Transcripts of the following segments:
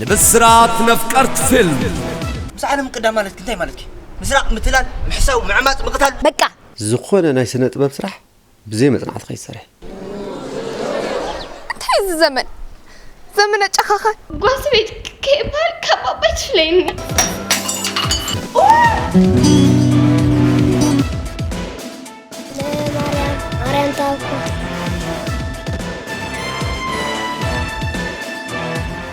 ንብስራት ነፍቀርት ፊልም ምስ ዓለም ምቅዳም ማለት እንታይ ማለት እዩ? ምስራቅ፣ ምትላል፣ ምሕሳው፣ ምዕማፅ፣ ምቕታል በቃ ዝኾነ ናይ ስነ ጥበብ ስራሕ ብዘይ መጽናዕቲ ከይትሰርሒ እንታይ እዚ ዘመን ዘመነ ጨኻኻን ጓስ ቤት ከይበሃል ካብ ኣባይ ትፍለይኒ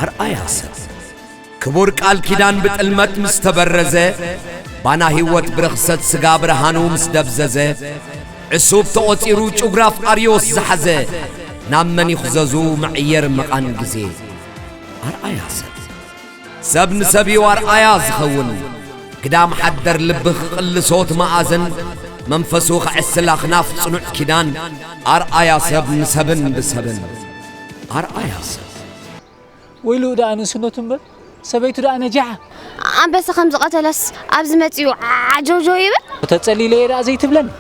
ኣርኣያ ሰብ ክቡር ቃል ኪዳን ብጥልመት ምስ ተበረዘ ባና ሕይወት ብርኽሰት ሥጋ ብርሃኑ ምስ ደብዘዘ ዕሱብ ተቖጺሩ ጩግራፍ ኣርዮስ ዝሓዘ ናብ መን ይኽዘዙ መዕየር መቓን ጊዜ ኣርኣያ ሰብ ሰብ ንሰብ'ዩ ኣርኣያ ዝኸውን። ግዳም ሓደር ልቢ ክቕልሶ ትማኣዝን መንፈሱ ከዕስል ኣኽናፍ ጽኑዕ ኪዳን ኣርኣያ ሰብ ንሰብን ብሰብን ኣርኣያ ሰብ። ወይልኡ ደኣ ንእስነቱ እምበር ሰበይቱ ደኣ ነጃዓ። ኣንበሳ ከም ዝቐተለስ ኣብዚ መጺኡ ዓጀውጀው ይብል። ተጸሊለ'የ ደኣ ዘይትብለኒ።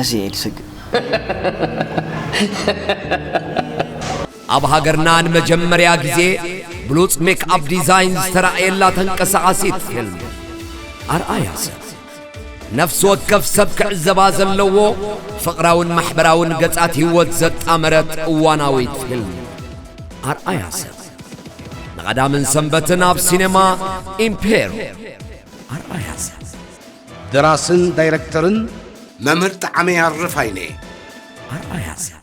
ኣዚየ ኢየ ዝስግእ። ኣብ ሃገርና ንመጀመርያ ግዜ ብሉጽ ሜክኣፕ ዲዛይን ዝተራእየላ ተንቀሳቓሲት ፊልም። ኣርኣያ ሰብ። ነፍሲ ወከፍ ሰብ ክዕዘባ ዘለዎ ፍቕራውን ማሕበራውን ገጻት ህይወት ዘጣመረት እዋናዊት ፊልም። ኣርኣያ ሰብ። ንቐዳምን ሰንበትን ኣብ ሲነማ ኢምፔሮ። ኣርኣያ ሰብ። ደራስን ዳይረክተርን መምህር ጠዓመ ያርፋይነ። ኣርኣያ ሰብ።